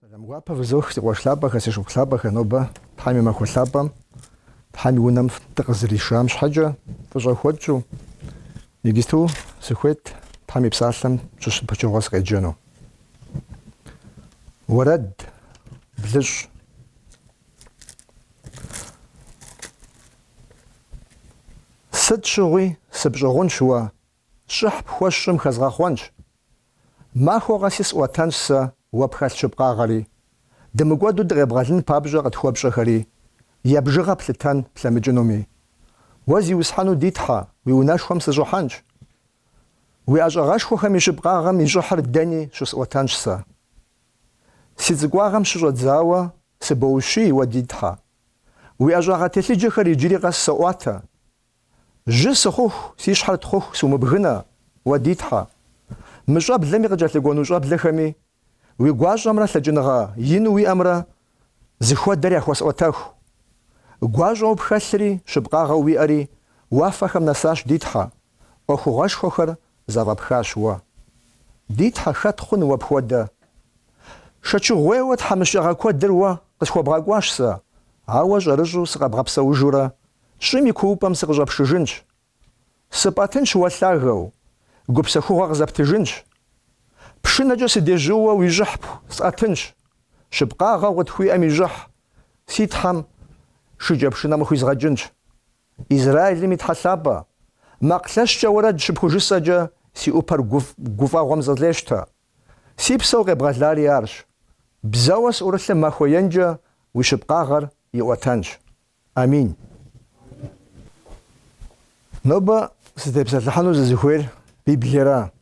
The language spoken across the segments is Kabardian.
Сэлам гуапэ фызох, си къуэш лъапӏэхэр, си шыпхъу лъапӏэхэр, нобэ Тхьэм и махуэ лъапӏэм, Тхьэм и унэм дыкъызэришам щхьэкӏэ, фӏыщӏэ хуэтщӏу, иджыпсту сыхуейт Тхьэм и псалъэм щыщ пычыгъуэ сыкъеджэну. Уэрэд, блыщӏ. Сыт щыгъуи сыпщӏыгъунщ уэ Щӏыхь пхуэсщӏым хэзгъэхъуэнщ. Махуэ къэси сӏуэтэнщ сэ уэ пхэлъ щыпкъагъэри. Дымыкӏуэду дыкъебгъэлын папщӏэ къытхуэпщӏэхэри, я бжыгъэ плъытэн плъэмыкӏынуми. Уэ зиусхьэну ди Тхьэ, уи унэшхуэм сыщӏыхьэнщ. Уи ӏэщӏагъэшхуэхэм и щыпкъагъэм и щӏыхьыр дэни щысӏуэтэнщ сэ. Си цӏыкӏуагъэм щыщӏэдзауэ сыбоущий уэ ди Тхьэ. Уи ӏэщӏагъэ телъыджэхэр иджыри къэс соӏуатэ, Жьы сыхъуху, си щхьэр тхъуху сумыбгынэ, уэ ди Тхьэ. Мы щӏэблэми къыкӏэлъыкӏуэну щӏэблэхэми, уи гуащӏэмрэ лъэкӏыныгъэ ину уиӏэмрэ зыхуэдэр яхуэсӏуэтэху. Гуащӏэу пхэлъри, щыпкъагъэу уиӏэри уафэхэм нэсащ, ди Тхьэ, ӏуэхугъуэшхуэхэр зэфӏэпхащ уэ. Ди Тхьэ, хэт хъун уэ пхуэдэ? Шэчыгъуейуэ тхьэмыщкӏагъэ куэдыр уэ къысхуэбгъэкӏуащ сэ, ауэ щӏэрыщӏу сыкъэбгъэпсэужурэ Щӏым и куупӏэм сыкъыщӏэпшыжынщ. Сыпӏэтынщ уэ лъагэу, гупсэхугъуэ къызэптыжынщ. Пшынэкӏэ сыдежьууэ уи щӏыхь пхуэсӏэтынщ, щыпкъагъэу къытхуиӏэм и щӏыхь си Тхьэм шыкӏэпшынэм къыхуизгъэкӏынщ. Израилым и Тхьэ Лъапӏэ, макъ лъэщкӏэ уэрэд щыпхужысӏэкӏэ си ӏупэр гуфӏэгъуэм зэлъещтэ. Си псэу къебгъэлари арщ. Бзэуэ сӏурылъым махуэ енкӏэ уи щыпкъагъэр иӏуэтэнщ. Амин. Нобэ сытепсэлъыхьыну сызыхуейр Библиера.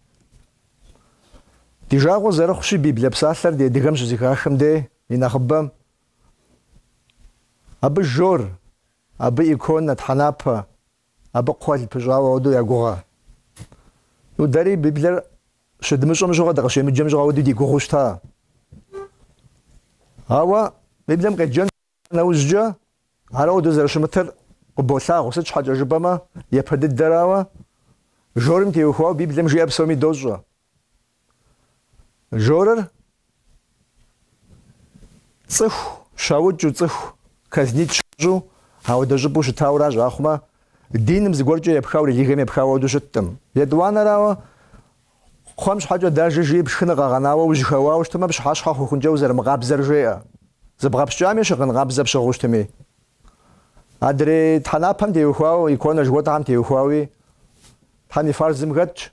Ди жагъуэ зэрыхъущи, Библие псалъэр ди адыгэм щызэхахым де и нэхъыбэм абы жор, абы иконэ, тхьэнапэ, абы кхъуэл пыщӏауэ ауэдэу ягугъэ. Ну, дэри Библиер щыдмыщӏэм щыгъуэ, дыкъыщемыджэм щыгъуэ ауэдэу ди гугъэу щыта. Ауэ Библием къеджэн Нэужькӏэ ар ауэдэу зэрыщымытыр къыболъагъу, сыт щхьэкӏэ жыпӏэмэ, япэ дыдэрауэ, жорым теухуауэ Библием жиӏэр псоми дощӏэ. Жорыр цӏыху щаукӏыу, цӏыху казнит щащӏу, ауэдэ щӏыпӏэу щытауэ аращ, ахъумэ, диным зыгуэркӏэ епхауэ, религием епхауэ ауэдэу щыттым. Етӏуанэрауэ, Кхъуэм щхьэкӏэ дажэ, жи, пшхыныр къэгъэнауэ ужьэхэуауэ щытмэ, пщыхьэщхьэ хъухункӏэ узэрымыкъабзэр жеӏэ. Зыбгъэпскӏами, щыгъын къабзэ пщыгъыу щытми. Адрей тхьэнапэм теухуауэ, иконэ жыхуэтӏэхэм теухуауи Тхьэм и фарзым хэтщ.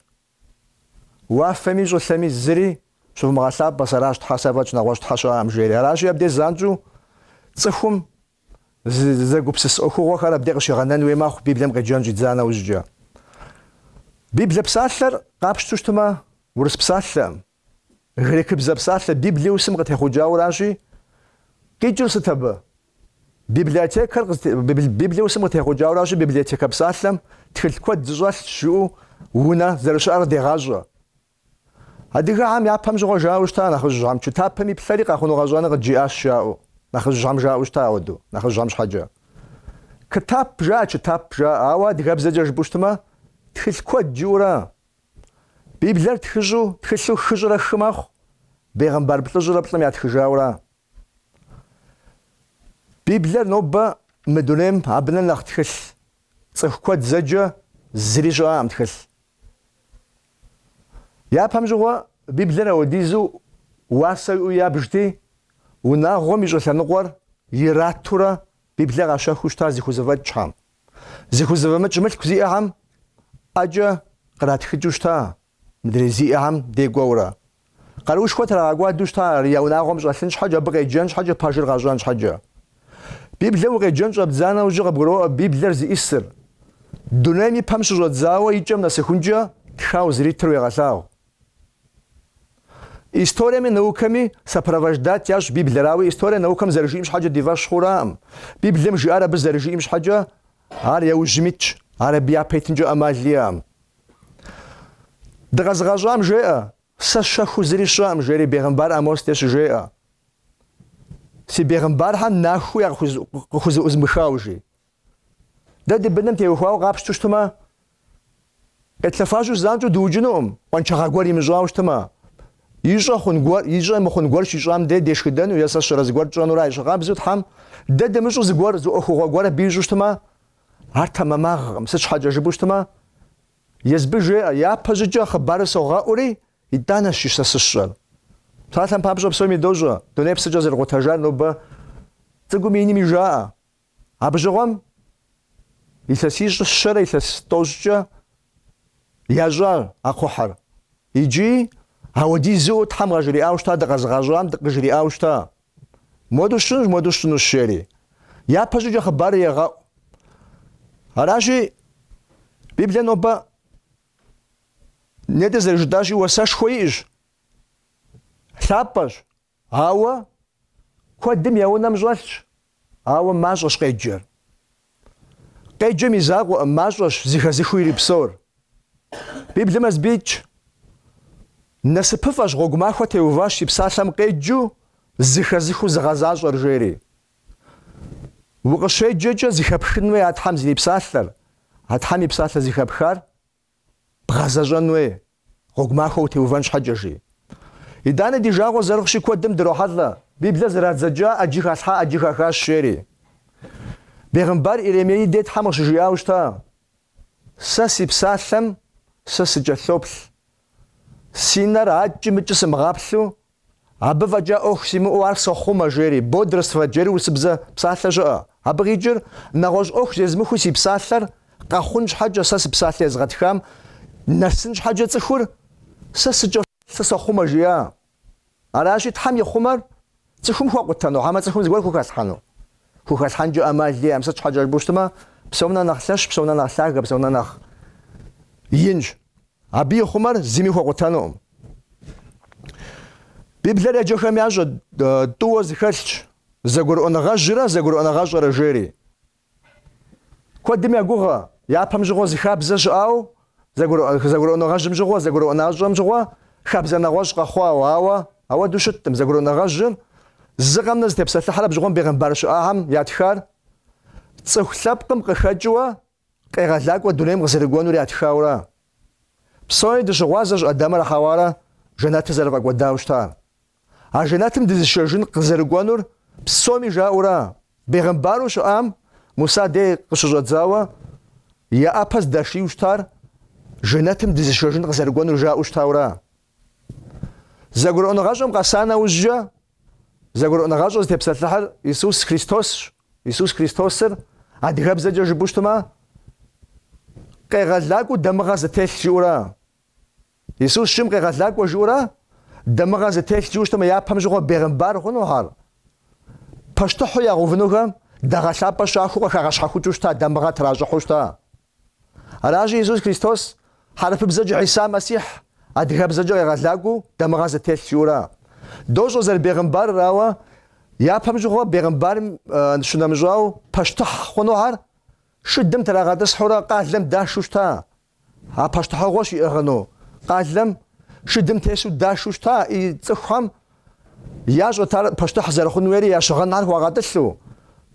Уафэми щӏылъэми зыри щывмыгъэлъапӏэ, сэращ Тхьэ сэ фӏэкӏ, нэгъуэщӏ Тхьэ щыӏэкъым жери. Аращи, абдеж занщӏэу цӏыхум Зэгупсыс ӏуэхугъуэхэр абдей къыщигъэнэн хуей мэхъу Библием къеджэн щӏидза нэужькӏэ. Библие псалъэр, къапщтэу щытмэ, урыс псалъэм, грекыбзэ псалъэ Библиусым къытехъукӏауращи, къикӏыр сыт абы? Библиотекэр, Библиусым къытехъукӏауращи, библиотекэ псалъэм тхылъ куэд зыщӏэлъ жыӏэу унэ зэрыщыӏэр къыдегъащӏэ. Адыгэхэм япэм щыгъуэ жаӏэу щыта нэхъыжьхэм, чытапэм иплъэри къэхъуну-къэщӏэну къыджиӏащ жаӏэу, нэхъыжьхэм жаӏэу щыта ауэду, нэхъыжьхэм щхьэкӏэ. Кытап жаӏэ, чытап жаӏэ, ауэ адыгэбзэкӏэ жыпӏэу щытмэ, тхылъ куэд жыӏэура. Библиер тхыщӏу, тхылъу хыщӏрэ хы мэхъу, бегъымбар плӏыщӏрэ плӏым ятхыжаура. Библиер нобэ мы дунейм абынэ нэхъ тхылъ, цӏыху куэд зэджэ, зыри щыӏэкъым тхылъ. Япэм щыгъуэ Библиер ауэдизу уасэ иӏэу ябжти, унагъуэм и щӏы лъэныкъуэр иратурэ Библие къащэхуу щыта зыхузэфӏэкӏхэм. Зыхузэфӏэмыкӏ мылъку зиӏэхэм ӏэкӏэ къратхыкӏыу щыта мыдрей зиӏэхэм дей кӏуэурэ. Къаруушхуэ трагъэкӏуадэу щыта ар я унагъуэм щӏэлъын щхьэкӏэ, абы къеджэн щхьэкӏэ, пэжыр къащӏэн щхьэкӏэ. Библием укъеджэн щӏэбдза нэужь къыбгуроӏуэ Библиер зиӏисыр. Дунейм и пэм щыщӏэдзауэ и кӏэм нэсыхункӏэ тхауэ зэритыр уегъэлъагъу. Историеми наукэми сопровождать ящӏ Библиер, ауэ историе наукэм зэрыжиӏэм щхьэкӏэ ди фӏэщ хъураӏым. Библием жиӏар абы зэрыжиӏэм щхьэкӏэ Ар яужьым итщ, ар абы япэ итынкӏэ ӏэмал иӏэкъым. Дыкъэзыгъэщӏам жеӏэ, Сэ щэхуу зыри сщӏэкъым, жери бегъымбар Амос дей щыжеӏэ. Си бегъымбархэм нахуэу якъыхузэӏузмыхауэ, жи. Дэ ди быным теухуауэ къапщту щытмэ, Къетлъэфажьэу занщӏэу дыукӏынукъым, къуаншагъэ гуэр имыщӏауэ щытмэ. Ищӏэ хъун гуэр, ищӏэ мыхъун гуэр щищӏам дей дешхыдэну е сэ щэрэ зыгуэр тщӏэнура. Ещхьыркъабзэу Тхьэм дэ дымыщӏу зыгуэр, зы ӏуэхугъуэ гуэр абы ищӏу щытмэ, ар тэмэмагъэкъым, сыт щхьэкӏэ жыпӏэу щытмэ, Езбы жеӏэ, Япэщӏыкӏэ хъыбарыр согъэӏури, итӏанэщ сэ щысщӏэр. Псалъэм папщӏэ псоми дощӏэ, дунейр псыкӏэ зэрыкъутэжар нобэ цӏыкӏуми инми жаӏэ, Абы щыгъуэм илъэсищ щэрэ илъэс тӏощӏкӏэ ящӏа а кхъухьыр. Иджы ауэдизыу Тхьэм къажриӏауэ щыта, дыкъэзыгъащӏам дыкъыжриӏауэ щыта. Модэу сщӏынущ, модэу сщӏынущ, жери. Япэ щӏыкӏэ хъыбар егъэӏу. Аращи, Библием нобэ нетӏэ зэрыжытӏащи, уасэшхуэ иӏэщ, лъапӏэщ, Ауэ куэдым я унэм щӏэлъщ, ауэ мащӏэщ къеджэр. Къеджэм и закъуэкъым, мащӏэщ зыхэзыхыу ирипсор. Библием езым итщ, Насыпыфӏэщ гъуэгу махуэ теуващ си псалъэм къеджу зыхэзыхыу зыгъэзащӏэр, жери. Укъыщеджэкӏэ зыхэпхын хуей а Тхьэм зэрипсалъэр, а Тхьэм и псалъэр зыхэпхар Бгъэзэщӏэн хуей, гъуэгу махуэ утеувэн щхьэкӏэ, жи. Итӏани ди жагъуэ зэрыхъущи куэдым дрохьэлӏэ, Библиер зэрадзэкӏа ӏэджи халъхьа, ӏэджи хахащ, жери. Бегъымбар Иеремеи дей Тхьэм къыщыжиӏауэ щыта, Сэ си псалъэм сэ сыкӏэлъоплъ, си нэр акӏи-мыкӏи сымыгъаплъу Абы фӏэкӏа ӏуэху симыӏэу ар сохъумэ, жери, бодрствовать, жери урысыбзэ псалъэ щыӏэ. Абы къикӏыр, нэгъуэщӏ ӏуэху зезмыхуэу си псалъэр къэхъун щхьэкӏэ, сэ си псалъэ езгъэтхам нэсын щхьэкӏэ цӏыхур сэ сыкӏэ сэ сохъумэ жиӏа. Аращи, Тхьэм ихъумэр цӏыхум хуэкъутэну, хьэмэ цӏыхум зыгуэр хухэлъхьэну. Хухэлъхьэнкӏэ ӏэмал иӏэкъым, сыт щхьэкӏэ жыпӏэу щытмэ, псом нэ нэхъ лъэщ, псом нэ нэхъ лъагэ, псом нэ нэхъ инщ, Абы ихъумэр зыми хуэкъутэнукъым. Библиер еджэхэм ящӏэ тӏууэ зыхэлъщ зэгурыӏуэныгъэжьрэ зэгурыӏуэныгъэщӏэрэ жери. Куэдым ягугъэ, япэм щыгъуэ зы хабзэ щыӏауэ, зэгурыӏуэныгъэжьым щыгъуэ, зэгурыӏуэныгъэщӏэм щыгъуэ хабзэ нэгъуэщӏ къэхъуауэ, ауэ ауэдэу щыттым, зэгурыӏуэныгъэжьыр зы къэмынэ зытепсэлъыхьыр абы щыгъуэм бегъымбар щыӏахэм ятхар цӏыху лъэпкъым къыхэкӏыуэ Къегъэлакӏуэ дунейм къызэрыкӏуэнур ятхаура? Псори дыщыгъуазэщ Адамрэ Хьэуарэ жэнэтыр зэрыфӏэкӏуэдауэ щытар. А жэнэтым дызышэжын къызэрыкӏуэнур псоми жаӏэура? Бегъымбару щыӏам Муса дей къыщыщӏэдзауэ я ӏэпэ здашийуэ щытар жэнэтым дызышэжын къызэрыкӏуэнур жаӏэу щытаура? Зэгурыӏуэныгъэщӏэм къэса нэужькӏэ, зэгурыӏуэныгъэщӏэ зытепсэлъыхьыр Исус Христосщ. Исус Христосыр адыгэбзэкӏэ жыпӏэу щытмэ, къегъэлакӏуэу дамыгъэ зытелъ жиӏэура. Исус щым къегъэлакӏуэ жиӏэура, дамыгъэ зытелъ жыпӏэу щытмэ, япэм щыгъуэ бегъымбар хъунухэр, пащтыхьу ягъэувынухэм дагъэ лъапӏэ щахуэу къыхагъэщхьэхукӏыу щыта дамыгъэ тращӏыхьу щыта? Аращи, Иисус Христос хьэрыпыбзэкӏэ Хьиса Мэссихь адыгэбзэкӏэ къегъэлакӏуэу дамыгъэ зытелъ жыӏурэ. Дощӏэ зэрыбегъымбарыр, ауэ япэм щыгъуэ бегъымбарым щынэмыщӏау пащтыхь хъунухэр шыдэм трагъэтӏысхьурэ къалэм дашэу щыта. А пащтыхьыгъуэ щиӏыгъыну къалэм шыдым тесу дашэу щыта и цӏыхухэм Ящӏэт ар пащтыхь зэрыхъун хуейри я щыгъынхэр хуагъэтӏылъу.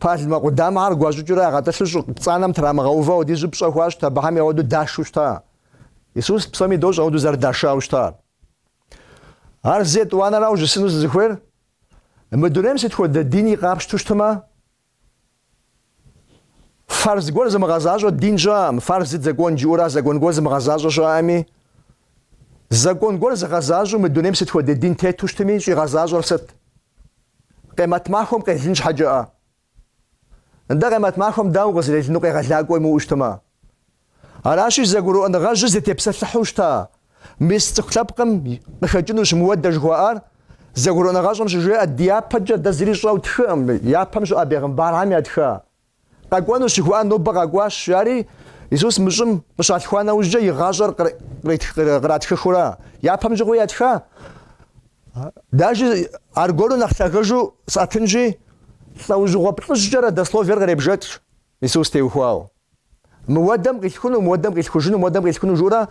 Пальмэ къудамэхэр гуащӏыкӏыурэ ягъэтӏылъу щӏы пцӏанэм трамыгъэувэу ауэдиз пщӏэ хуащӏт, абыхэми ауэдэу дашэу щыта. Исус псоми дощӏ ауэдэу зэрыдашауэ щытар. Ар зы, етӏуанэрауэ жысӏэну сызыхуейр? Мы дунейм сыт хуэдэ дини къапщту щытмэ, Фарз гуэр зымыгъэзащӏэ дин щыӏэм, фарз, закон жыӏэура закон гуэр зымыгъэзащӏэ щыӏэми? Закон гуэр зыгъэзащӏэу мы дунейм сыт хуэдэ дин тету щытми щӏигъэзащӏэр сыт? Къемэт махуэм къелын щхьэкӏэӏэ? Нтӏэ къемэт махуэм дауэ къызэрелыну къегъэлакӏуэ имыӏэу щытмэ? Аращи, зэгурыӏуэныгъэжьыр зытепсэлъыхьу щыта мис цӏыху лъэпкъым къыхэкӏынущ мыуэдэ жыхуаӏар, зэгурыӏуэныгъэщӏэм щыжеӏэ ди япэкӏэ дэ зыри щӏэу тхыӏым, япэм щыгъуэ бегъымбархэм ятха. Къэкӏуэнущ жыхуаӏар нобэ къэкӏуащ, жари Исус мы щӏым къыщалъхуа нэужькӏэ и гъащӏэр къратхыхыурэ япэм щыгъуэ ятха, адэкӏи аргуэру нэхъ лъагэжу сӏэтынщи, лӏэужьыгъуэ плӏыщӏкӏэ родословиер къребжэкӏ, Исус теухуауэ. Мыуэдэм къилъхуну, мыуэдэм къилъхужыну, мыуэдэм къилъхуну жыӏурэ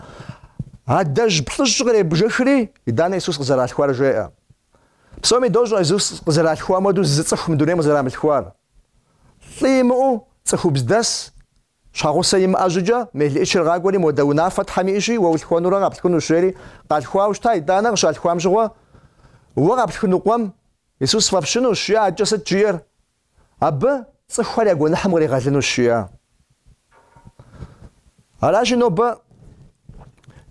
адэжь плӏыщӏ къребжыхри, итӏанэ Исус къызэралъхуар жеӏэ. Псоми дощӏэ Исус къызэралъхуам хуэдэу зы цӏыху мы дунейм къызэрамылъхуар. Лӏы имыӏэу цӏыхубздэс, щхьэгъусэ имыӏэ щӏыкӏэ, мелыӏычыр къакӏуэри, Мыуэдэ унафэ Тхьэм иӏэщи, уэ улъхуэнурэ къаплъхунущ, жери къалъхуауэ щыта, итӏанэ къыщалъхуам щыгъуэ, уэ къаплъхуну къуэм Исус фӏэфщынущ, жиӏэ, адэкӏэ сыт жиӏэр? абы цӏыхухэр я гуэныхьым къригъэлынущ жиӏэ. Аращи, нобэ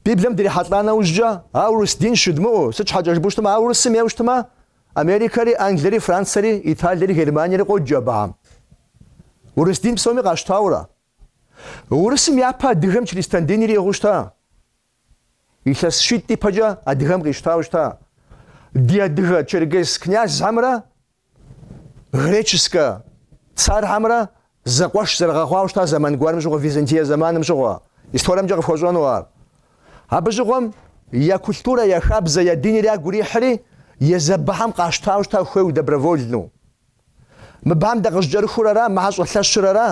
Библием дрихьэлӏа нэужькӏэ, а урыс дин жыдмыӏу, сыт щхьэкӏэ жыпӏэу щытмэ, а урысым ейуэ щытмэ, Америкэри, Англири, Францэри, Италири, Германири къоджэ абыхэм. Урыс дин псоми къащтаурэ. Урысым япэ адыгэм чристэн диныр иӏыгъу щта. Илъэс щитӏ ипэкӏэ адыгэм къищтау щта. Ди адыгэ черкес князьхэмрэ Греческэ цархьэмрэ зэкъуэш зэрыгъэхъуауэ щыта зэман гуэрым щыгъуэ Византие зэманым щыгъуэ. Историемкӏэ къыфхуэщӏэну ар. Абы щыгъуэм я культурэ, я хабзэ, я диныр ягу ирихьри, езы абыхэм къащтауэ щыта хуейу добровольну. Мыбыхэм дакъыщӏыкӏэрыхур ара, мыхьэр щӏэлъэщыр ара,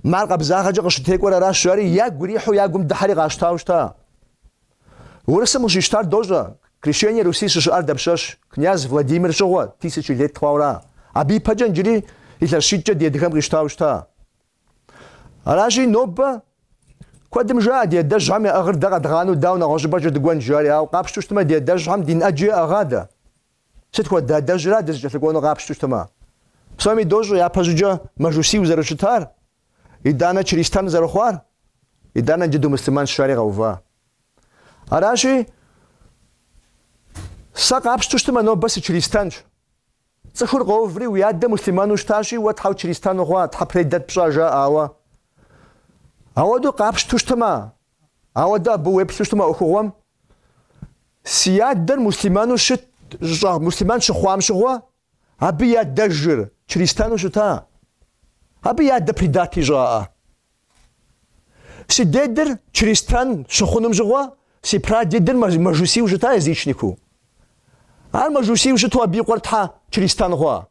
мыхьэр къабзагъэкӏэ къыщӏытекӏуэр аращ, жари ягу ирихьу я гум дыхьэри къащтауэ щыта. Урысым къыщищтар дощӏэ, Крещение Руси щыщыӏар дапщэщ, князь Владимир щыгъуэ, тысяча лет хъуауэра, абы ипэкӏэ иджыри илъэс щитӏкӏэ ди адыгэм къищтауэ щыта. Аращи, нобэ куэдым жаӏэ ди адэжьхэм яӏыгъыр дэ къэдгъанэу дауэ нэгъуэщӏыпӏэкӏэ дыкӏуэн, жаӏэри, ауэ къапщтэу щытмэ, ди адэжьхэм дин ӏэджи яӏыгъа дэ? Сыт хуэдэ адэжьра дызыкӏэлъыкӏуэну къапщтэу щытмэ? Псоми дощӏэ, япэщӏыкӏэ мэжусийу зэрыщытар, Итӏанэ чристан зэрыхъуар, итӏанэ джыдэу муслъымэн щыщари къэува. Аращи, сэ къапщту щытмэ, нобэ сычристанщ. Цӏыхур къоуври, уи адэ муслъымэну щытащи, уэ тхьэу чристан ухъуа, тхьэ предат пщӏа, жаӏэ. Ауэ ауэдэу къапщту щытмэ, ауэдэ абы уеплъу щытмэ ӏуэхугъуэм, си адэр муслъымэну щыт, муслъымэн щыхъуам щыгъуэ, Абы и адэжьыр чристэну щыта? Абы и адэ предат ищӏаӏэ? Си дедыр чристэн щыхъуным щыгъуэ, си прадедыр мэжусийу щыта, язычнику. Ар мэжусийу щыту абы и къуэр тхьэ чристэн хъуа?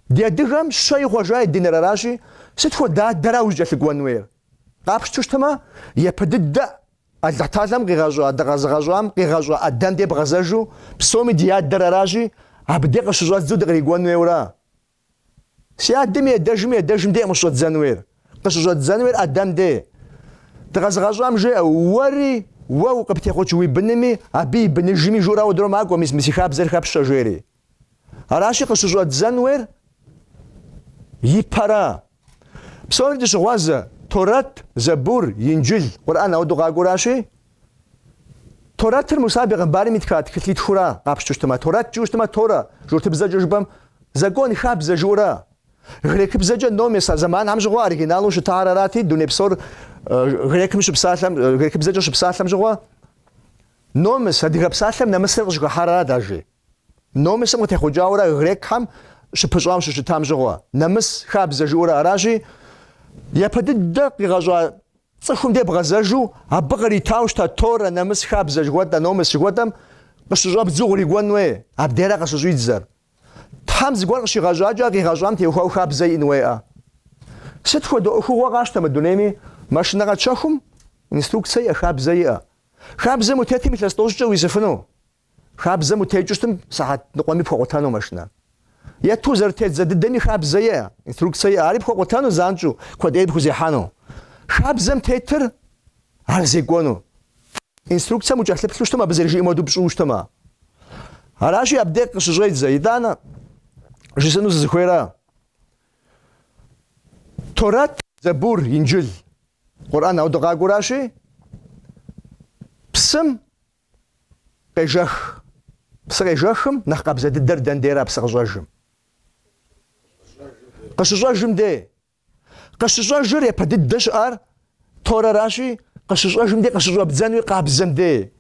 Ди адыгэм щэ ихъуэжа и диныр аращи, сыт хуэдэ адэра узыкӏэлъыкӏуэн хуейр? Къапщту щытмэ, япэ дыдэ Алыхьталэм къигъэщӏа, дыкъэзыгъэщӏам къигъэщӏа ӏэдэм де бгъэзэжу, псоми ди Адэр аращи, абы де къыщыщӏэдзу дыкърикӏуэн хуейуэра? Си адэм и адэжьым и адэжьым дей къыщыщӏэдзэн хуейр, къыщыщӏэдзэн хуейр ӏэдэм де. Дыкъэзыгъэщӏам жеӏэ, Уэри, уэ къыптехъукӏ уи бынми, абы и быныжми жыурэ ауэдэурэ макӏуэ, мис мы си хабзэр хэпщӏэ, жери. Аращи, къыщыщӏэддзэн уейр ипэра. Псори дыщыгъуазэ, Торэт, Зэбур, Инджыл, Къурӏэн ауэдэу къакӏуэращи, Торэтыр Муса бегъымбарым итха тхылъитхура къапщтыщтым, а Торэт жыущтымэ, Торэ, журтыбзэкӏэ жыпӏэм, закон, хабзэ жыурэ. Грекыбзэкӏэ номес, а зэманхэм щыгъуэ оригиналу щытар арати, дуней псор грекым щыпсалъэм, грекыбзэкӏэ щыпсалъэм щыгъуэ номес, адыгэ псалъэм нэмысыр къыщыхыхьар арат, ажи. Номысым къытехъукӏауэрэ грекхэм щыпыщӏауэ щыщытам щыгъуэ, нэмыс хабзэ жыӏэурэ аращи, япэ дыдэ къигъэщӏа цӏыхум де бгъэзэжу, абы къыритау щыта Торэ, нэмыс хабзэ жыхуэтӏэ, номыс жыхуэтӏэм къыщыщӏэбдзу къырикӏуэн уей, абдера къыщыщӏидзэр. Тхьэм зыгуэр къыщигъэщӏакӏэ а къигъэщӏам теухуау хабзэ иӏэн уеӏэ. Сыт хуэдэ ӏуэхугъуэ къащтэ мы дунейми, машинэ къэтщэхум инструкцэ иӏэ, хабзэ иӏэ. Хабзэм утетым илъэс тӏощӏкӏэ уисыфыну. Хабзэм утекӏыу щытмэ сыхьэт ныкъуэми пхуэкъутэну машинэ. Ету зэрытет зэ дыдэми хабзэе, инструкцэе, ари пхуэкъутэну занщӏу, куэд ӏейрэ пхузехьэну. Хабзэм тетыр ар зекӏуэну. Инструкцэм укӏэлъыплъу щытмэ, абы зэрыжиӏэм хуэдэу пщӏыуэ щытмэ. Аращи, абдей къыщыщӏедзэ, итӏанэ жысӏэну сызыхуейра. Торэт, Зэбур, Инджыл, Къурӏэн ауэ дыкъакӏуэращи, псым Къежэх. Псы къежэхым нэхъ къабзэ дыдэр дэн дейрэ а псы къыщӏэжым? Къыщыщӏэжым дей. Къыщыщӏэжыр япэ дыдэ щыӏар Торэращи, къыщыщӏэжым дей къыщыщӏэбдзэнуи къабзэм дей.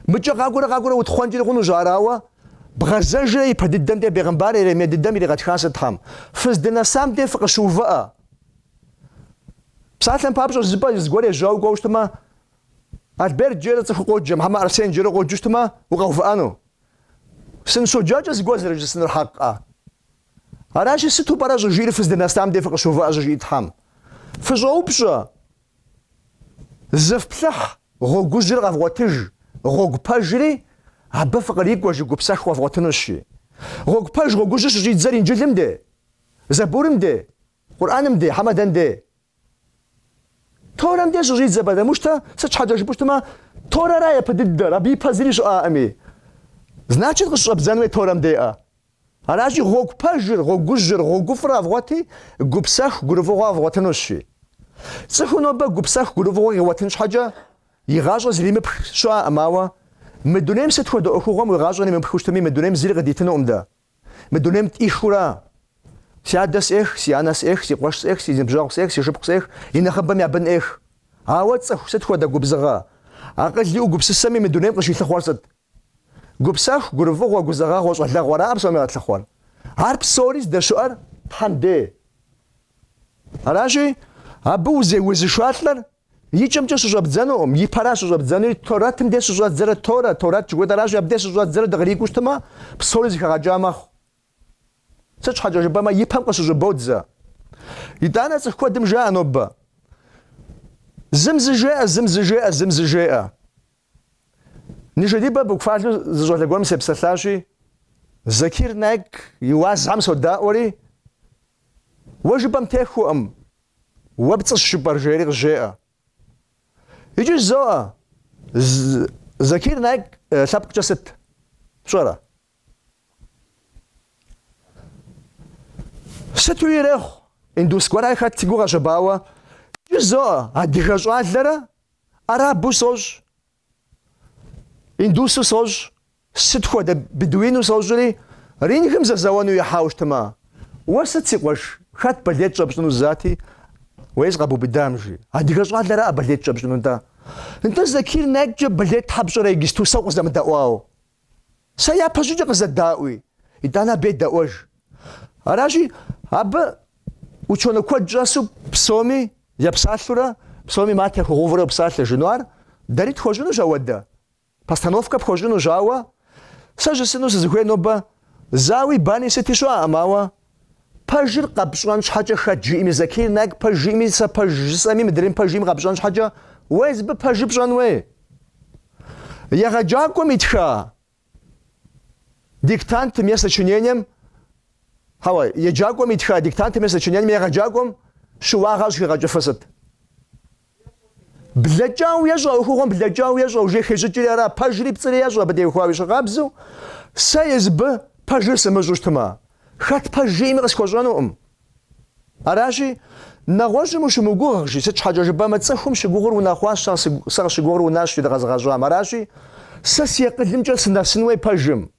Мыкӏэ къакӏуэрэ къакӏуэрэ утхъуэнкӏи хъунущ ар, ауэ бгъэзэжрэ япэ дыдэм дей бегъымбар Еремей дыдэм иригъэтхащ Тхьэм. Фыздынэсам дей фыкъыщыувыӏэ. Псалъэм папщӏэ зыпӏэ зыгуэр ежьауэ кӏуэу щытмэ, Альберт жерэ цӏыхуу къоджэмэ, хьэмэ Арсен жерэ къоджэу щытмэ, укъэувыӏэну? Сыныщоджакӏэ зыгуэр зэрыжысӏэнур хьэкъкъэ? Аращи, сыту пӏэрэ щӏыжиӏэр фыздынэсам де фыкъыщыувыӏэ щӏыжиӏи Тхьэм? Фыщӏоупщӏэ, зыфплъыхь гъуэгужьыр къэвгъуэтыж, гъуэгу пэжри абы фыкърикӏуэ жи, гупсэху къэвгъуэтынущи. Гъуэгу пэж гъуэгужьыр щыщӏидзэр Инджылым де? Зэбурым де? Къурӏэным де, хьэмэ дэн де? Торэм де щыщӏидзэ потому что, сыт щхьэкӏэ жыпӏэу щытмэ, Торэра япэ дыдэр, абы ипэ зыри щыӏэкъыми. Значит, къыщыщӏэбдзэн хуей Торэм деӏэ. Аращи, гъуэгу пэжыр, гъуэгужьыр, гъуэгуфӏыр къэвгъуэти, гупсэху, гурыфӏыгъуэ къэвгъуэтынущи. Цӏыхур нобэ гупсэху, гурыфӏыгъуэ къигъуэтын щхьэкӏэ, и гъащӏэр зримыпх щыӏэкъым, ауэ мы дунейм сыт хуэдэ ӏуэхугъуэм уи гъащӏэр имыпхыу щытми, мы дунейм зыри къыдитынукъым дэ. Мы дунейм тӏихыура, си адэ сӏех, си анэ сӏех, си къуэш сӏех, си ныбжьэгъу сӏех, си шыпхъу сӏех, и нэхъыбэм я бын ӏех. Ауэ цӏыху сыт хуэдэ губзыгъэ? Акъыл иӏэу гупсысэми мы дунейм къыщилъыхъуэр сыт? Гупсэху, гурыфӏыгъуэ, гузэгъэгъуэ, щӏалэгъуэ аракъэ псоми къэтлъыхъуэр? Ар псори здэщыӏэр Тхьэм дей. Аращи, абы узеузышалӏэр И кӏэмкӏэ щыщӏэбдзэнукъым, и пэра щыщӏэбдзэнури, Торэтым де щыщӏэддзэрэ Торэ, Торэт жыхуэтӏэращи, абы де щыщӏэддзэрэ дыкърикӏуэу щытмэ, псори зыхэгъэкӏа мэхъу. Сыт щхьэкӏэ жыпӏэмэ, и пэм къыщыщӏыбодзэ. Итӏанэ цӏыху куэдым жаӏэ нобэ, зым зы жеӏэ, зым зы жеӏэ, зым зы жеӏэ. Ныжэдибэ буквалу зы щӏалэ гуэрым сепсэлъащи, Закир Найк и уазхэм содаӏуэри, Уэ жыпӏэм техуэкъым. Уэ пцӏыщ жыпӏэр жери къызжеӏэ. Икӏи жызоӏэ, Закир Найк лъэпкъкӏэ сыт, пщӏэрэ? Сыту ирехъу, индус гуэра хэт сигу къэщэбауэ, икӏи жызоӏэ, адыгэ щӏалэрэ арабу сощӏ, Индусу сощӏ, сыт хуэдэ бедуину сощӏри, рингым зэзэуэну ихьауэ щытмэ, Уэ сыт, си къуэш, хэт болеть щӏэпщӏыну зыдати, уэ езы къэбубыдам, жи. Адыгэ щӏалэраӏэ болеть щӏэпщӏыну-тӏэ? Нтӏэ, Закир Найккӏэ болеть щхьэ пщӏэрэ иджысту сэ укъызэмыдэӏуау? Сэ япэщӏыкӏэ къызэдаӏуи, итӏанэ абы едэӏуэж. Аращи, абы ученый куэд щӏэсу псоми епсалъурэ, псоми мат яхуигъэувурэ псалъэ жиӏэну ар, дэри тхуэщӏынущ ауэдэ, постановкэ пхуэщӏынущ, ауэ сэ жысӏэну сызыхуей нобэ зауи бани сыти щыӏэкъым, ауэ Пэжыр къэпщӏэн щхьэкӏэ хэт жиӏэми, Закир Найк пэж жиӏэми, сэ пэж жысӏэми, мыдрейм пэж жиӏэми къэпщӏэн щхьэкӏэ, уэ езыбы пэжыр пщӏэн уей. Егъэджакӏуэм итха диктантым е сочинением, хьэуэ, еджакӏуэм итха диктантым е сочинением егъэджакӏуэм щыуагъэ щӏыхигъэкӏыфыр сыт? Блэкӏауэ ещӏэ, ӏуэхугъуэм блэкӏауэ ещӏэ, уже хещӏыкӏри ара, пэжри пцӏыри ещӏэ абы теухуауи ещхьыркъабзэу, сэ езыбы пэжыр сымыщӏу щытмэ, хэт пэж жиӏэми къысхуэщӏэнукъым. Аращи, нэгъуэщӏым ущымыгугъ, жи, сыт щхьэкӏэ жыпӏэмэ, цӏыхум щыгугъыр унэхъуащ, сэ къыщыгугъыр унащ, жи, дыкъэзыгъэщӏам. Аращи, сэ си акъылымкӏэ сынэсын уей пэжым.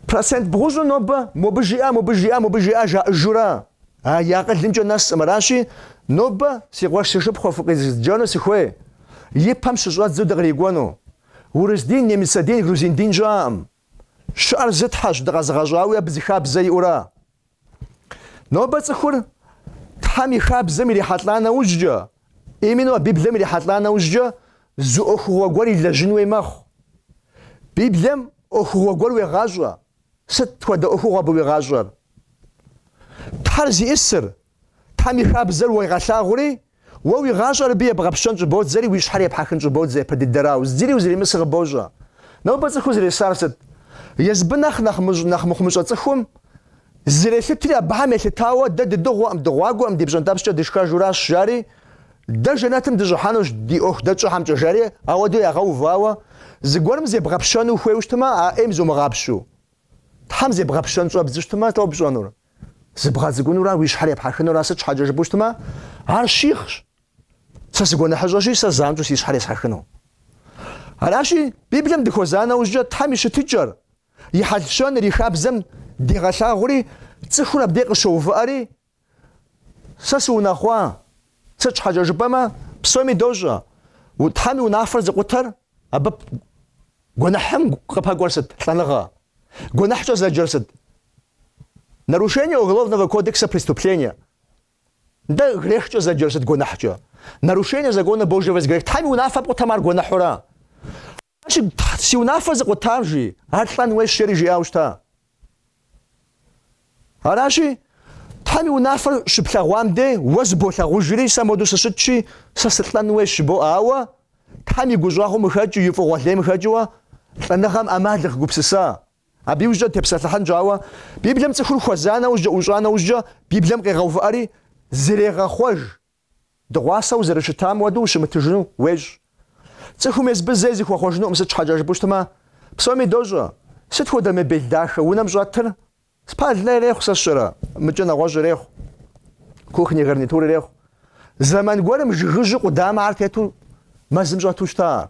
Процент бгъущӏу нобэ мобы жиӏа, мобы жиӏа, мобы жиӏа жаӏыжура, а и акъылымкӏэ нэсӏым. Аращи, нобэ си къуэш си шыпхъуэ фыкъизджэну сыхуей, и пэм щыщӏэдзу дыкърикӏуэну. Урыс дин, немыцэ дин, грузин дин щыӏэӏым. Щыӏэр зы Тхьэщ, дыкъэзыгъэщӏауи абы зы хабзэ иӏура? Нобэ цӏыхур Тхьэм и хабзэм ирихьэлӏа нэужькӏэ, именно а Библием ирихьэлӏа нэужькӏэ, зы ӏуэхугъуэ гуэр илэжьын уей мэхъу. Библием ӏуэхугъуэ гуэр уегъащӏэ. Сыт хуэдэ ӏуэхугъуэ абы уигъащӏэр? Тхьэр зиӏысыр, Тхьэм и хабзэр уегъэлъагъури, Уэ уи гъащӏэр абы ебгъэпщэн щӏыбодзэри уи щхьэр епхьэхын щӏыбодзэ япэ дыдэрау, зыри узыримысыр къыбощӏэ. Нобэ цӏыхур зэресар сыт? Езыбы нэхъ нэхъ мыщӏ, нэхъ мыхъумыщӏэ цӏыхум зрелъытри абыхэм елъытауэ, дэ дыдыгъуэкъым, дыгъуагуэкъым, ди пщӏэнтӏэпскӏэ дышхэжуращ, жари, дэ жэнэтым дыщӏыхьэнущ, ди ӏуэху дэ тщӏэхэмкӏэ, жари, ауэдэу ягъэувауэ, зыгуэрым зебгъэпщэну ухуейу щытмэ, а ӏейм зумыгъапщу. Тхьэм зебгъэпщэн щӏэбдзу щытмэ, сыт къэпщӏэнур? Зыбгъэцӏыкӏунура уи щхьэр епхьэхынура сыт щхьэкӏэ жыпӏэу щытмэ, ар щихъщ. Сэ сыгуэныхьыщӏэщи, сэ занщӏэу си щхьэр есхьэхыну. Аращи, Библием дыхуэза нэужькӏэ Тхьэм и щытыкӏэр, и хьэл-щэныр, и хабзэм дегъэлъагъури, цӏыхур абдей къыщоувыӏэри, Сэ сыунэхъуа? Сыт щхьэкӏэ жыпӏэмэ, псоми дощӏэ, Тхьэм и унафэр зыкъутэр абы гуэныхьым къыпэкӏуэр сыт? Лӏэныгъэ. Гуэныхькӏэ зэджэр сыт? Нарушение Уголовного кодекса преступление. Дэ грехкӏэ зэджэр сыт гуэныхькӏэ? Нарушение закона Божьего есть грех. Тхьэм и унафэ пкъутам ар гуэныхьурэ? Ащи, си унафэ зыкъутам, жи, ар лӏэн уейщ жери жиӏауэ щыта. Аращи, Тхьэм и унафэр щыплъэгъуам дей уэ зыболъагъужри, сэ моду сыщытщи, сэ сылӏэн уейщ жыбоӏэ, ауэ Тхьэм и гущӏэгъум къыхэкӏыу, и фӏыгъуэ лейм къыхэкӏыуэ лӏэныгъэм ӏэмал къыгупсыса, Абы иужькӏэ тепсэлъыхьынщ, ауэ, Библием цӏыхур хуэза нэужькӏэ, ӏущӏа нэужькӏэ, Библием къегъэувыӏэри зрегъэхъуэж. Дыгъуасэ узэрыщытам уэду ущымытыжыну уещӏ. Цӏыхум езыбы зэи зыхуэхъуэжынукъым, сыт щхьэкӏэ жыпӏэу щытмэ, псоми дощӏэ, Сыт хуэдэ мебель дахэ унэм щӏэтыр? Спальнэ ирехъу сэ сщӏэрэ, мыкӏэ нэгъуэщӏ ирехъу, кухни гарнитур ирехъу. Зэман гуэрым жыгыжьу къудамэхэр тету мэзым щӏэту щыта ар.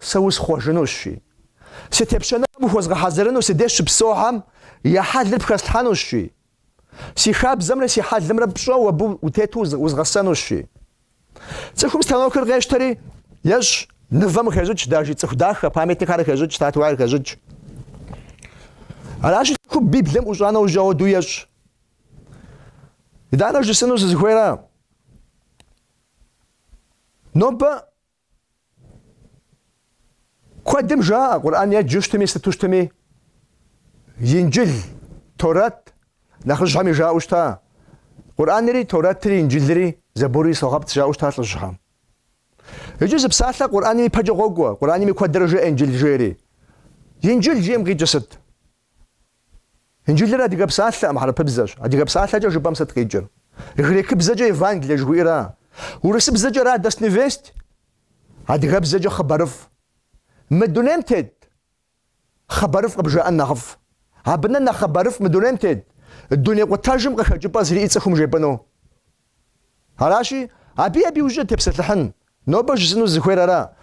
Сэ усхъуэжынущ, жи. Си тепщэныгъэм ухуэзгъэхьэзырыну си деж щыпсэухэм я хьэлыр пхэслъхьэнущ, жи. Си хабзэмрэ си хьэлымрэ пщӏэу абы утету узгъэсэнущ, жи. Цӏыхум станокыр къещтэри, ещӏ, нывэм къыхещӏыкӏ, дажи цӏыху дахэ, памятникхэр къыхещӏыкӏ, статуэхэр къыхещӏыкӏ. Аращи, цӏыхум Библием ӏущӏа нэужь ауэду ещӏ. Итӏанэ жысӏэну сызыхуейра. Нобэ Куэдым жаӏэ Къурӏэн еджэу щытми, сыту щытми, Инджыл, Торэт, нэхъыжьхэми жаӏэу щыта, Къурӏэнри, Торэтри, Инджылри, Забури согъэпцӏ жаӏэу щыта лӏыжьхэм. Иджы зы псалъэ Къурӏэным ипэкӏэ къокӏуэ, Къурӏэнми куэдрэ жеӏэ Инджыл жери. Инджыл жиӏэм къикӏыр сыт? Инджылыр адыгэ псалъэкъым, хьэрыпыбзэщ. Адыгэ псалъэкӏэ жыпӏэм сыт къикӏыр? Грекыбзэкӏэ Евангелие жыхуиӏэра? Урысыбзэкӏэ Радостный весть? Адыгэбзэкӏэ хъыбарыфӏ. Мы дунейм тет хъыбарыфӏ къыбжаӏэн нэхъыфӏ. Абы нэ нэхъ хъыбарыфӏ мы дунейм тет, дуней къутэжым къыхэкӏыпӏэ зэриӏэр цӏыхум жепӏэну. Аращи, абы абы иужькӏэ тепсэлъыхьын. Нобэ жысӏэну сызыхуейр ара?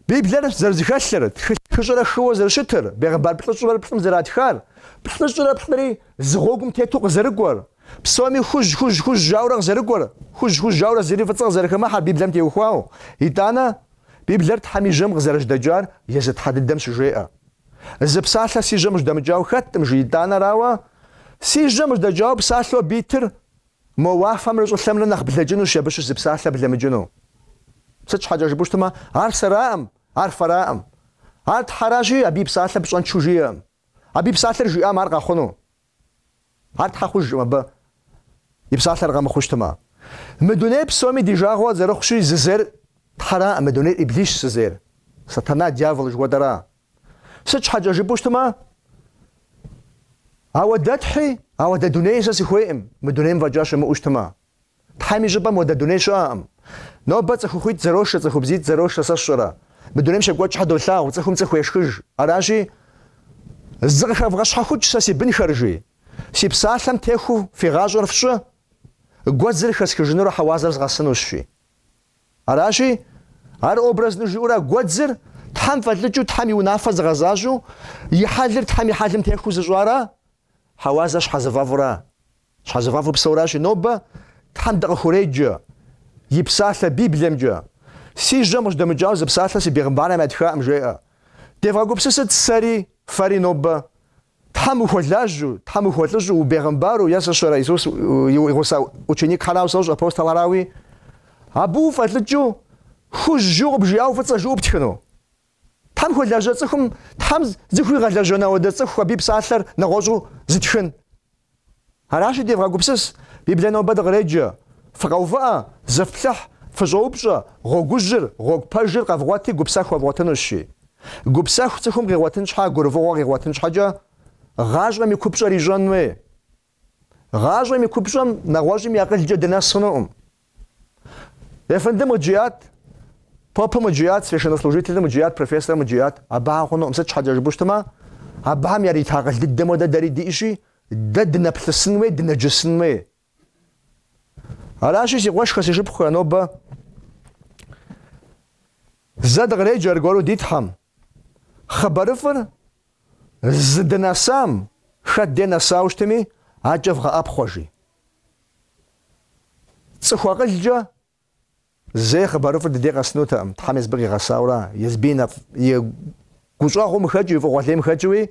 Библэр зэрызэхэлъыр, тхылъ хыщӏрэ хыуэ зэрыщытыр, бегъымбар плӏыщӏрэ плӏым зэратхар, плӏыщӏрэ плӏыри зы гъуэгум тету къызэрыкӏуэр, псоми хужь-хужь-хужь жаӏэурэ къызэрыкӏуэр, хужь-хужь жаӏэурэ зыри фӏыцӏэ къызэрыхэмыхьэр Библэм теухуауэ. Итӏанэ, Библэр Тхьэм и Жьэм къызэрыжьэдэкӏар езы Тхьэ дыдэм щыжеӏэ. Зы псалъэ си жьэм жьэдэмыкӏауэ хэткъым, жи, итӏанэ, арауэ, Си жьэм жьэдэкӏауэ псалъэу абы итыр Мо уафэмрэ щӏылъэмрэ нэхъ блэкӏынущ абы щыщ зы псалъэ блэмыкӏыну. Сыт щхьэкӏэ жыпӏэу щытмэ, ар сэраӏым, ар фэраӏым. Ар Тхьэращи, абы и псалъэ пщӏэнчу жиӏэкъым. Абы и псалъэр жиӏам ар къэхъуну. Ар Тхьэ хъужкъым абы и псалъэр къэмыхъуу щытмэ. Мы дунейр псоми ди жагъуэ зэрыхъущи, зызейр Тхьэраӏым, мы дунейр Иблисщ зызейр, Сатана, дьявол жыхуэтӏэра, Сыт щхьэкӏэ жыпӏэу щытмэ, ауэдэ Тхьи, ауэдэ дуней сэ сыхуейӏым, мы дунейм фӏэкӏа щымыӏэу щытмэ. Тхьэм и щӏыпӏэм уэдэ дуней щыӏэкъым. Нобэ цӏыхухъуитӏ зэрошэ, цӏыхубзитӏ зэрошэ, сэ сщӏэрэ. Мы дунейм щекӏуэкӏхьэ долъагъу, цӏыхум цӏыху ешхыж. Аращи, зыкъыхэвгъэщхьэхукӏ сэ си бынхэр, жи. Си псалъэм техуу фи гъащӏэр фщӏы, гуэдзыр хэсхыжынурэ хьэуазэр згъэсынущ, жи. Аращи, ар образну жиӏэурэ гуэдзыр Тхьэм фӏэлӏыкӏыу, Тхьэм и унафэ зыгъэзащӏэу, и хьэлыр Тхьэм и хьэлым техуу зыщӏара, хьэуазэр щхьэзыфӏэфӏра. Щхьэзыфӏэфӏу псэуращи, нобэ Тхьэм дыкъыхуреджэ, и псалъэ Библиемкӏэ. Си жьэм къыжьэдэмыкӏауэ зы псалъэ си бегъымбархэм ятхаӏым, жеӏэ. Девгъэгупсысыт сэри, фэри нобэ Тхьэм ухуэлажьэу, Тхьэм ухуэлӏыжьэу убегъымбару е сэ сщӏэрэ Исус и гъусэ ученикхэрауэ сощӏ апостолхэрауи? Абы уфӏэлӏыкӏыу, хужь жыу къыбжиӏауэ фӏыцӏэ жыӏэу птхыну? Тхьэм хуэлажьэ цӏыхум Тхьэм зыхуигъэлэжьэн ауэдэ цӏыху абы и псалъэр нэгъуэщӏу зытхын? Аращи, девгъэгупсыс, Библие нобэ дыкъреджэ, фыкъэувыӏэ, зыфплъыхь, фыщӏэупщӏэ, гъуэгужьыр, гъуэгу пэжыр къэвгъуэти гупсэху къэвгъуэтынущ, жи. Гупсэху цӏыхум къигъуэтын щхьэ, гурыфӏыгъуэ къигъуэтын щхьэкӏэ, гъащӏэм и купщӏэр ищӏэн хуей. Гъащӏэм и купщӏэм нэгъуэщӏым и акъылкӏэ дынэс хъунуӏым. Ефэндым къыджиӏат, попым къыджиӏат, священнослужителым къыджиӏат, профессорым къыджиӏат. Абыхьэм хъунуӏым, сыт щхьэкӏэ жыпӏэу щытмэ, абыхьэм ярита акъыл дыдэм хуэдэ дэри диӏэщи, дэ дынэплъысын хуей, дынэджысын хуей. Аращи, си къуэшхэ, си шыпхъухэ, нобэ зэ дыкъреджэ аргуэру ди Тхьэм, Хъыбарыфӏыр зыдынэсам хэт де нэсауэ щытми, акӏэ вгъэӏэпхъуэ, жи. Цӏыху акъылкӏэ зэи хъыбарыфӏыр дыдей къэсынутэкъым, Тхьэм езбыр къигъэсаура, езби и гущӏэгъум хэкӏыу, и фӏыгъуэлейм хэкӏыуи,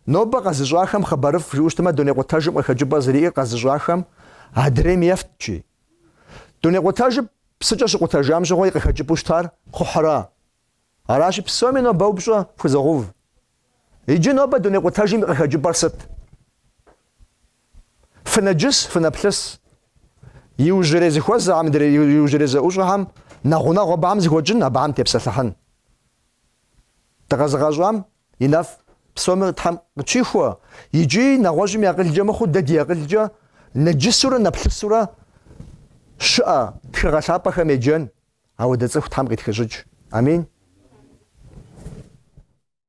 нобэ къэзыщӏахэм хъыбарыфӏ жиӏэу щытмэ, дуней къутэжым къыхэкӏыпӏэ зыриӏэр къэзыщӏахэм адрейм ефт, жи. Дуней къутэжыр псыкӏэ щыкъутэжам щыгъуэ и къыхэкӏыпӏэу щытар кхъухьра, Аращи, псоми нобэ упщӏэ фхузогъэув, иджы нобэ дуней къутэжым и къыхэкӏыпӏэр сыт? Фынэджыс, фынэплъыс. Иужьрей зыхуэзэхэм, иужьрей зэӏущӏэхэм нэхъ гъунэгъу абыхэм зыхуэкӏын, абыхэм тепсэлъыхьын. Дыкъэзыгъэщӏам и нэфӏ псоми Тхьэм къытщихуэ, иджы нэгъуэщӏым и акъылкӏэ мыхъуу, дэ ди акъылкӏэ нэджысурэ нэплъысурэ щыӏэ тхыгъэ лъапӏэхэм еджэн, Ауэдэ цӏыху Тхьэм къытхищӏыкӏ. Амин.